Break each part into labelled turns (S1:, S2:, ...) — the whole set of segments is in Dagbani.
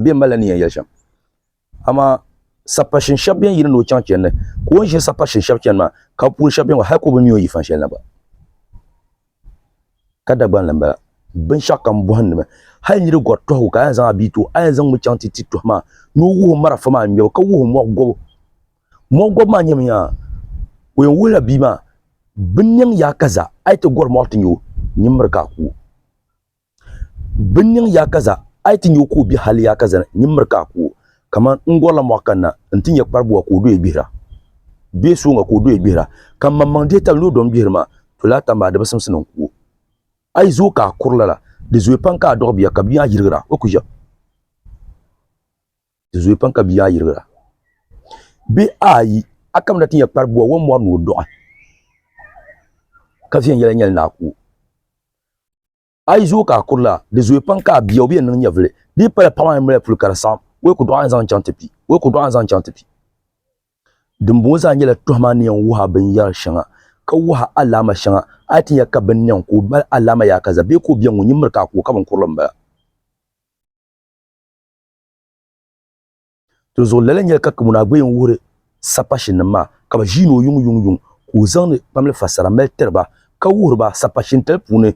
S1: n bɛ malila ni yɛn yɛli shɛm amaa sapashin shɛba bɛn yiri ni o chaŋ chɛndi ka o ni ʒini sapashin shɛba chɛni maa ka bi puuni shɛba bɛn hali ka o bi mi o yifan shɛli na gba ka Dagban la n bala binshɛɣu kam bɔhim ni mi hali niri gɔri tɔhigu ka a yɛn zaŋ a bia ti o a yɛn zaŋ mi chaŋ ti ti tɔhi maa ni o wuhi o marafa maa ŋmɛbu ka wuhi o mɔɣu gɔbu mɔɣu gɔbu maa nyɛmi yaa o yɛn wuhila bia maa bin niŋ yaa kaza a yi ti gɔri mɔɣu ti nya o nimmiri ka a ku o Bin niŋ yaakaza, a yi ti nya o ka o be hal yaakaza ni, nyin miri ka a ku o. Kaman n gɔrila mɔɣu kanna nti nya kparibuwa ka o doya gbihira, bee sooŋa ka o doya gbihira, ka m maŋmaŋ dihi tali ni o dɔŋ gbihiri maa, to laa tam maa di bi simsi ni n ku o. A yi zooi ka a kuri lala, di zooi pam ka a dɔɣi bia ka bia maa yirigira. O ku ʒiɛm. Di zooi pam ka bia maa yirigira. Bee ayi, a kamina ti nya kparibuwa o ni mɔri ni o dɔɣi, ka viɛnyɛla nyɛli ni a ku o. A yi zooi ka a kurili a, di zooi pam ka a bia o bi yɛn niŋ nyɛvili. Di yi pala paɣa maa ni mali puli ka di saɣim o ya ka o dɔɣi a n-zaŋ chaŋ ti bia, o ya ka o dɔɣi a n-zaŋ chaŋ ti bia. Dimbɔŋɔ zaa nyɛla tɔhim a ni yɛn wuhi a binyɛr shɛŋa, ka wuhi a alaama shɛŋa. A yi ti nya ka bini niŋ ka o mali alaama yaakaza bee ka o bia ŋun nyin miri ka a ku o, ka binkurili m-bala. Di zuɣu lala nyɛli ka Kamuna Agbayi n wuhiri sapashin nim maa ka bi ʒiini o yuŋ yuŋ yuŋ ka o zaŋdi kpamli fasara mali tiri ba ka wuhiri ba sapashin tali puuni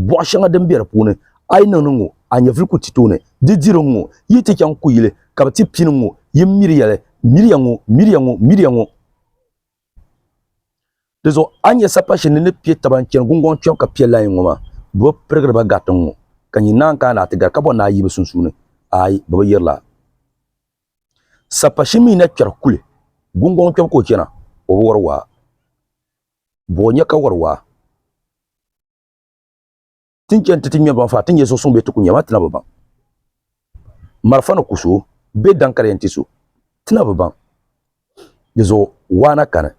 S1: bɔɣu shɛŋa din bɛ di puuni a yi niŋdi ŋɔ a nyɛvili ku ti tooni di diri n ŋɔ yi ti chaŋ kuyili ka bi ti pini ŋɔ yi miri yɛli miriya ŋɔ miriya ŋɔ miriya ŋɔ Di zuɣu a ni nyɛ sapashin ni ni piɛ taba n chɛni gungoŋ kpɛbu ka piɛ lai ŋɔ maa, bɛ bi pirigiri ba gari tiŋ ŋɔ, ka nyin naan kana a ti gari ka bɔri ni a yi bɛ sunsuuni, aai, bɛ bi yirila a. Sapashin mi na kpɛri kuli, gungoŋ kpɛbu ka o chana, o bi wari waa. Bɔ o nya ka wari waa. tin chɛn ti ti ŋmɛri baŋ faa ti nyɛ zuɣusuŋ bee ti ku nya maa tina bi baŋ. Marafa ni ku so bee daŋ ka di yɛn ti so tina bi baŋ. Di zuɣu waa na kani.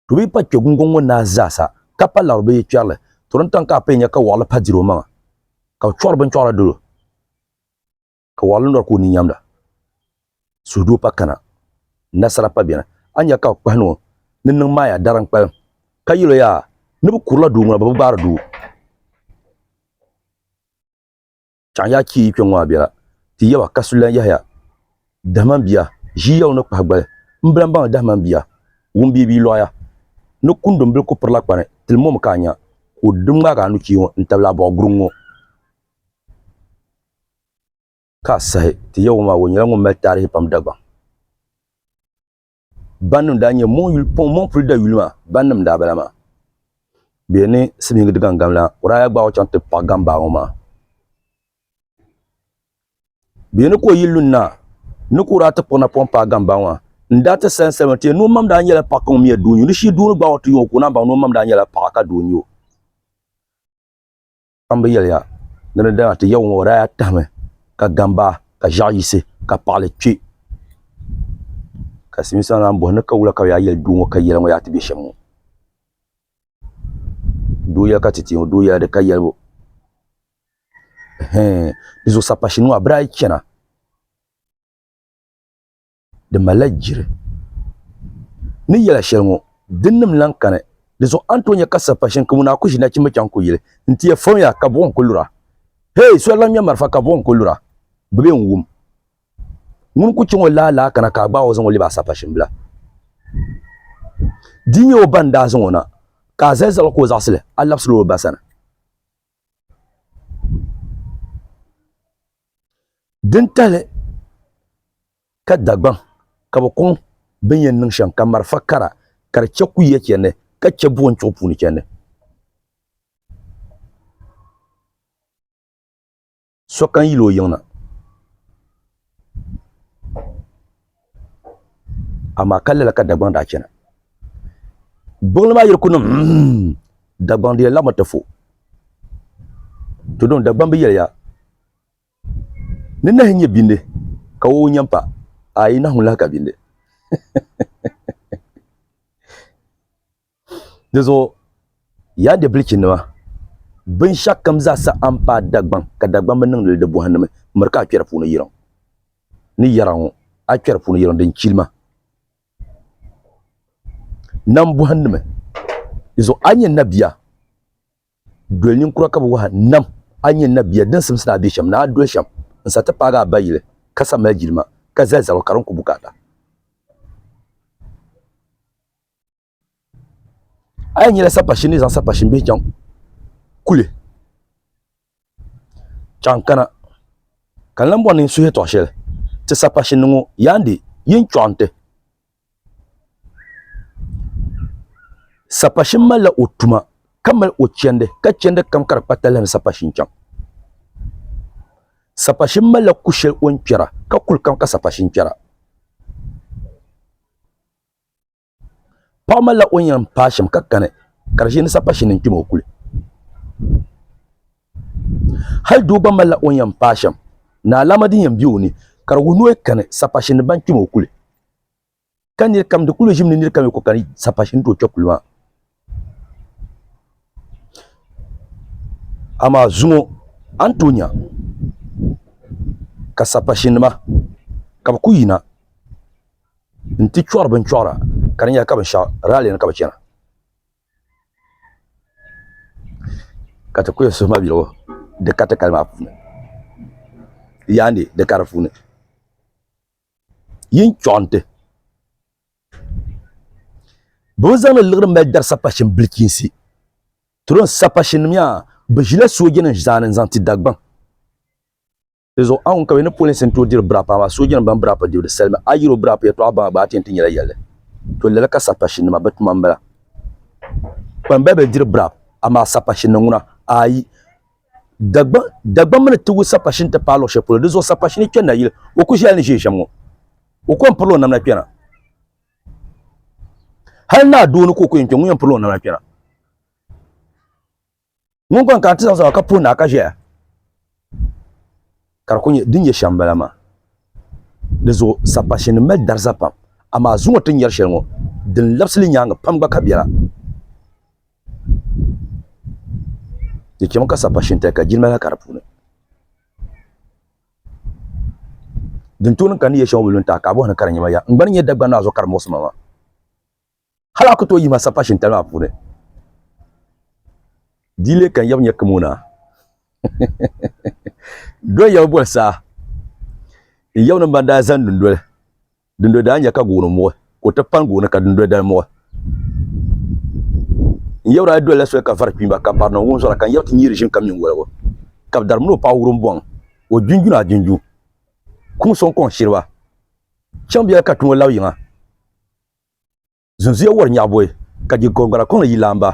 S1: To bi pa kpɛ gungoŋ ŋɔ naa zaa sa ka pa laɣiri bee yi kpɛri li, to din taŋ ka a paya nya ka wɔɣili pa diri o maŋa ka o chɔɣiri binchɔɣira dolo. ka waɣili nɔri ka o ni nyamda. Suhudoo pa kana, nasara pa beni. A nya ka bɛ kpahi ni o ni niŋ Maaya dari n-kpalim, ka yɛl o yaa, ni bɛ kurila doo ŋuna bɛ bi gbaari doo. Chaŋ yaa kpee yi kpiɔŋ ŋɔ a bela, ti yaba ka sulilan yahiya. Dahima m-bia, ʒii ya o ni kpahi gbali, m-bila m-baŋli dahima m-bia, wum bee bi yi lɔɣiya. Ni kundumbil ku pirila kpani, tili mɔmi ka a nya ka o di ŋmaagi a nuchee ŋɔ n-tabili a bɔɣu guruŋ ŋɔ. Ka a sahi ti Yawɛ maa, o nyɛla ŋun mali taarihi pam Dagbaŋ bannim daa nyɛ mɔŋpuli dayuli maa bannim n-daa bala maa. Bɛ yɛn ni silimiingi di gaŋgam la, o daa yaa gbaag o chaŋ ti paɣi gambaa ŋɔ maa. Bɛ yɛn ni ka o yi lu naa ni ka o daa ti kpuɣi napɔŋ paai gambaa ŋɔ n-daa ti salim salima ti yɛn ni o mam daa nyɛla paɣ ka ŋun mi ya doo n-nyɛ o. Di shii doo ni gbaag o ti yuŋ o ka o naan baŋ ni o mam daa nyɛla paɣ ka doo n-nyɛ o. kpamba yɛliya ni di dana ti Yawɛ ŋɔ, o daa tahimi ka gam ba ka ʒiɛɣu yisi ka paɣili kpe. Ka Silimiinsi maa naan bɔhi, Ni ka wula ka bɛ yaa yɛli doo ŋɔ ka yɛla ŋɔ yaa ti be shɛm ŋɔ? Doo yɛla ka ti ti ŋɔ, doo yɛla di ka yɛlibu. Ɛhɛɛn! Di zuɣu sapashinima maa bɛ daa yi chana. di malila jiri ni yɛla shɛli ŋɔ din nim lan kani di zuɣu a ni tooi nyɛ ka sapa shini ka ŋuni a ku ʒi nachimba chaŋ ku yili n ti yɛ fɔmya ka buɣim ku lura hee so lan ŋmɛ marafa ka buɣim ku lura bɛ bee n-wum ŋuni ku chaŋ o laa laa kana ka a gbaag o zaŋ o lɛbi a sapa shini bila di nyɛ o ba n-daa zaŋ o na ka a zali zaɣil ka o zaɣisili a labisila o ba sani. Din tahili ka Dagbaŋ ka bɛ kɔŋ bɛ ni yɛn niŋ shɛm ka marafa kara ka di chɛ kuyiya chɛndi ka chɛ buɣim chuɣu puuni chɛndi. Sokam yil o yiŋ na. Amaa ka lala ka Dagbaŋ daa chana. Gbuɣinli maa yiri ku niŋ mm, Dagbaŋ di yɛn laɣimi ti fu. Tudɔŋ Dagbaŋ bi yɛliya ni nahi nyɛ bindi ka wawu nyɛ m-pa, aai nahu lahi ka bindi. Di zuɣu, yaa Debilichinima, binshɛɣukam zaa sa a ni paai Dagbaŋ ka Dagbaŋ bi niŋdili di bɔhindi mi miri ka a kpɛri puuni yiriŋ ni yɛra ŋɔ, a kpɛri puuni yiriŋ din chili ma nam bɔhindi mi. Di zuɣu a nyɛ nabia, doli ninkura ka bi wahi nam, a nyɛ nabia din simsi ni a be shɛm ni a doli shɛm n-sa ti paagi a ba yili ka sa mali jilima ka zali zaro ka di ni ku bukaata. a yi nyɛla sapashin ni zaŋ sapashin bihi chaŋ kuli chaŋ kana ka n lan bɔri ni n suhi tɔɣ shɛli ti sapashin ni ŋɔ yaandi yi ni chɔɣi nti sapashin malila o tuma ka mali o chɛndi ka chɛndi kam ka di kpa talahi ni sapashin chaŋ sapashin malila ku shɛli o ni kpɛra ka kuli kam ka sapashin kpɛra paɣa malila o nyina n paai shɛm ka kani ka di ʒɛ ni sapashini ni n kpɛm o kuli hali doo gba malila o nyina n paai shɛm ni alaama din yɛn bɛ o ni ka di wuhi ni o kani sapashini ni ban kpɛm o kuli ka niri kam di kuli ʒimi ni niri kam yi ku kani sapashini ni ti o kpɛ kuli maa Amaa zuŋɔ a ni tooi nya ka sapashinima ka bɛ kuli yina nti chɔri binchɔra ka di nyɛla ka binshɛɣu raali ni ka bɛ chana ka ti kuli suhima yɛligu di ka tikali maa puuni yaandi di ka di puuni yi ni chɔɣinti Bɛ ni zaŋdi liɣiri mali dari sapashin bilichiinsi tron sapashinnim yaa, bɛ ʒila soojanima zaani n-zaŋ ti Dagbaŋ. Di zuɣu anŋu ka bɛ ni polinsi n-tooi diri biraap amaa soojanima ban biraap dibu di salimi. A yi yiri o biraap yɛtɔɣa baŋa gba a ti yɛn ti nyɛla yɛlli. To lala ka sapashinnima bɛ tuma m-bala. Kpambaliba diri biraap amaa sapashinnim ŋuna ayi. Dagbamba ni tigu sapashini ti paai luɣ shɛli polo, di zuɣu sapashini kpɛni na yili, o ku ʒiɛla ni ʒiɛ ʒiɛm ŋɔ. O ku yɛn pirila o namda kpɛna. Hal naa doo ni ka o ku yɛn kpɛ, ŋun yɛn pirila o namda kpɛna. Ŋun gba n-kana ti zaŋ zaba ka puhi naa ka ʒɛya. Ka di kul nyɛ din nyɛ shɛm m-bala maa. Di zuɣu sapashinnim mali dariza pam, amaa zuŋɔ ti ni nyari shɛli ŋɔ, din labsi li nyaaŋa pam gba ka biɛla. Di chɛmi ka sapashintali ka jilima lahi ka di puuni. Din tooi niŋ ka n ni yɛli shɛŋa wul lu n-taai ka a bɔhi ni ka di nyɛ ma ya, n gba ni nyɛ Dagbani naa zuɣu ka di muɣisi ma maa. Hal a ku tooi yihi ma sapa shintali maa puuni. Di yi leei ka n yab nya kim o na, do n yab boli saa. N yab ni ban daa zani dundoli, dundoli daa nya ka gooni muɣi, ka o ti pani gooni ka dundoli dali muɣi. N yab daa dolila soli ka vari kpiimba, ka barina wunzɔra, ka n yab ti nyiiri ʒim ka mini woligu. Ka bɛ dari mini o paɣ wurim bɔŋ, o junjun a junjun, kuŋ sɔŋ kɔŋ shiriba. Chaŋ biɛla ka tumo lab yiŋa. Zunzuya wari nyaɣiboyi ka di gɔriŋgbana kɔŋli yi laamba.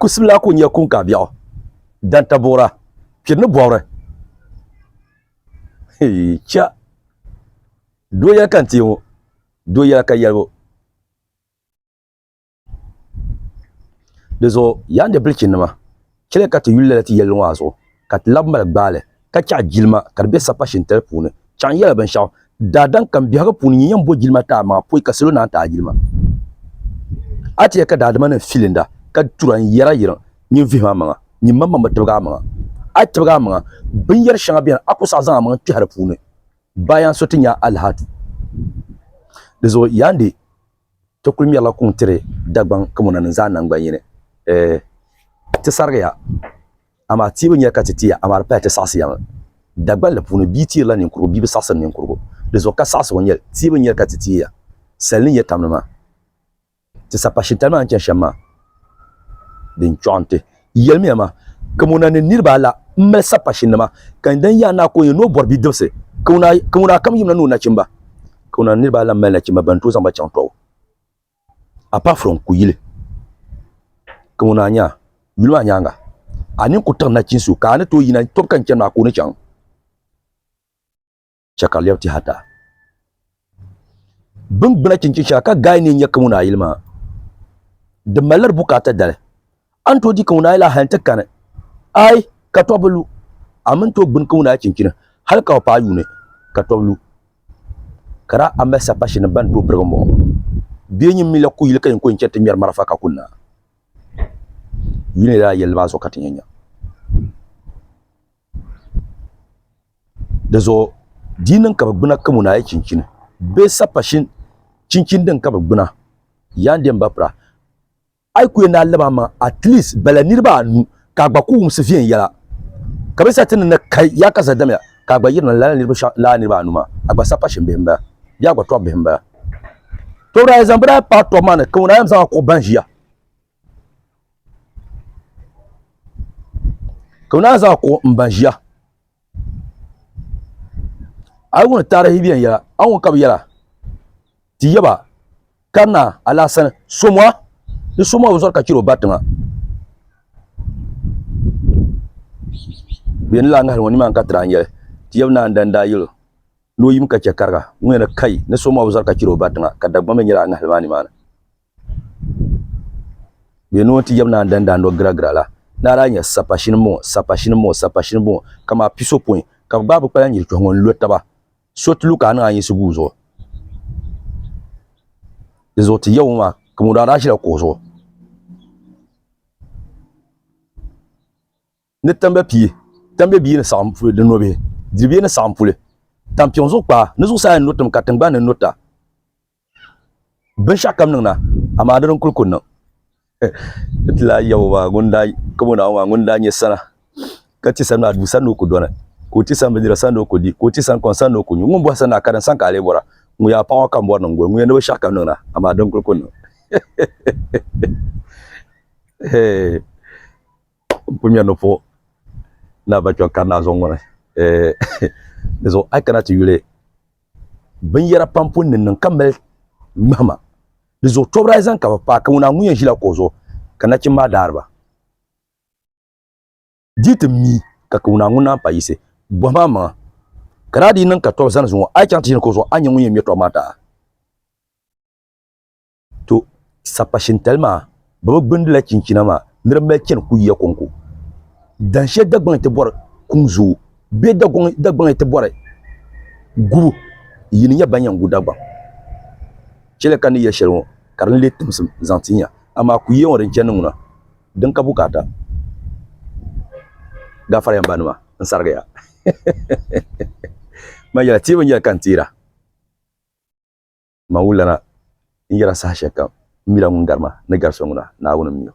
S1: Kusim laa kul nyɛ kuŋkaabiɛɣu, dantabuɣira, piri ni bɔbiri. Hee cha! Doo yɛli ka n teei ŋɔ, doo yɛla ka yɛlibu. Di zuɣu yaa n di bilichinnima! Chɛliya ka ti yuli lala ti yɛlli ŋɔ a zuɣu, ka ti labi mali gbaali, ka chɛɣi jilima ka di be sapa shintali puuni. Chaŋ yɛla binshɛɣu, Daadam kam biɛhigu puuni nyin yɛn bo jilima ti a maŋa poi ka salo naan ti a jilima. A ti yɛli ka daadimanim filinda ka tura n-yɛr a yiriŋ nyin vihim a maŋa, nyin maŋmaŋ bi tibigi a maŋa. A yi tibigi a maŋa, binyɛr shɛŋa beni a ku saɣi zaŋ a maŋa kpɛhi di puuni. Baayaŋ so ti nya a lahi a tu. Dizuɣu Yandi. Ti kuli mɛrila kuŋ tiri Dagbaŋ kamona ni zaa naŋgban'yini. Ɛɛ, ti sarigiya, amaa ti bi nya ka ti ti ya, amaa di paya ti saɣisiyami Dagbaŋ la puuni. Bia tiirila ninkurugu, bia bi saɣisiri ninkurugu. Di zuɣu ka saɣisigu nyɛ li, ti bi nya ka ti ti ya sali ni nyɛ tamli maa. Ti sapashintali maa ni chani shɛm maa. din chɔɣi n-ti. Yɛlimiya ma, Kawana ni niriba ala m-mali sapashinima, ka n dan yaanaa ka o nyɛ ni o bɔri bidibisi. Kawana kam yimina ni o nachimba. Kawana ni niriba ala m-mali nachimba bɛn tooi zaŋ ba chaŋ tɔbu. Apart from kuyili. Kawana nya, yuli maa nyaaŋa, a nini ku tiɣi nachinsi o, ka a ni tooi yina tɔbu ka ni chani maa ka o ni chaŋ. chɛ ka lɛbi tɛhata. Biŋgbuna chinchin shɛŋa ka gaai ni n nya kaŋuna ayili maa, di mali di bukaata dali. A ni tooi di kaŋuna ayili a hali nti kani, aai, ka tɔbu bi lu, a mi ni tooi gbini kaŋuna ayi chinchini hali ka o paai yuuni, ka tɔbu lu. Ka daa a mali sapashinim bɛn tooi birigi mɔɣu, bɛ nyin mi la ku yili ka yin ku yɛn chani ti ŋmɛri marafa ka ku na. Yuli ni daa yɛli li maa zuɣu ka ti nya nya. di zuɣu di niŋ ka bi gbuna kamo naai chinchin bee sappa shini chinchin din ka bi gbuna yaan dini ba pira a yi ku yɛn daa laba maŋ atilis bala niraba anu ka a gba ku wumsi viɛnyɛla ka bi sa ti ni na kai yaa ka sa damya ka a gba yirina lala niraba anu maa a gba sappa shini bihi n bala bee a gba tɔbbi bihi n bala too daa yɛn zaŋ bi daa paai tɔbu maa ni kamo naai yɛn zaŋ a kpuɣi ban ʒiya ka naan zaŋ kuɣu n ba ʒiya a yi wuni taarihi viɛnyɛla yɛla a ni wuni ka bi yɛra ti yaba kanna alaasana soma ni soma bi zɔri ka chɛro ba tiŋa bɛ ni lahi ŋahari ŋɔ nimaani ka ti lahi nyɛli ti yaba naan dani daa yɛlo ni o yim ka chɛ kariga ŋɔ yɛna kai ni soma bi zɔri ka chɛro ba tiŋa ka Dagbaŋ mii nyɛla a ŋahali maa nimaani Bɛ ni o ni ti yɛbi naan danda nɔ giragira la, ni a daa nya sapa shini m-bɔŋɔ, sapa shini m-bɔŋɔ, sapa shini m-bɔŋɔ, kamaa piso pɔin ka bɛ gbaai bɛ kpalan nyilitɔhi ŋɔ n-lo taba. So ti lu ka a niŋ a yinsi guui zuɣu. Dinzuɣu ti yɛbu ŋɔ maa, Kamuda daa ʒila kuɣu zuɣu. ni tambe pie, tambe bia ni saɣim puli di nobihi, diri bia ni saɣim puli tampiŋ zuɣu kpaa, ni zuɣusaa ni notim ka tiŋgbani ni nota binshɛɣu kam niŋna, amaa di din kul ku niŋ. N ti lahi yab o maa, ŋun daa kab o Naawuni maa, ŋun daa nyɛ sana, ka ti sani maa, duu sani ni o ku dɔni, ka o ti sani bindira sani ni o ku di, ka o ti sani kom sani ni o ku nyu. Ŋun bɔhi sani maa, karim sani ka a lee bɔra, ŋun yaa paɣ o ka m bɔri niŋ gol, ŋun yɛn ni binshɛɣu kam niŋna, amaa di din kul ku niŋ. n ku ŋmɛri ni puhi ni a ba kpiɔŋ kari naa zuɣu ŋɔ ni dizuɣu a yi kana ti yuli binyɛra pam pun ni niŋ ka mali ŋmahima dizuɣu tɔbiri ayi zaŋ ka bi paai ka ŋuna ŋun yɛn ʒila kuɣu zuɣu ka nachim maa daari ba dii ti mi ka ŋuna ŋun naan pa yisi bɔhi maa maŋa ka daa dii niŋ ka tɔbu zani zuŋɔ a yi chaŋ ti ʒini kuɣu zuɣu a ni nyɛ ŋun yɛn ŋmɛ tɔbu maa taha To, sapa shintali maa bɛ bi gbindila chinchina maa ni di mali chani kuyiya kɔŋko. Dan shɛli Dagbaŋ ti bɔri kum zooi bee Dagbaŋ ti bɔri gubu yi ni nya ban yɛn gu Dagbaŋ chɛliya ka ni yɛli shɛli ŋɔ ka di ni leei timsim zaŋ ti nya. Amaa kuyiya ŋɔ din chani ŋuna din ka bukaata gaafariya m ba nima n sarigi ya man yɛla teebu n yɛli ka n teera. Maulana n yɛra saha shɛlikam m mila ŋun gari ma ni gari so ŋuna, Naawuni m mi o.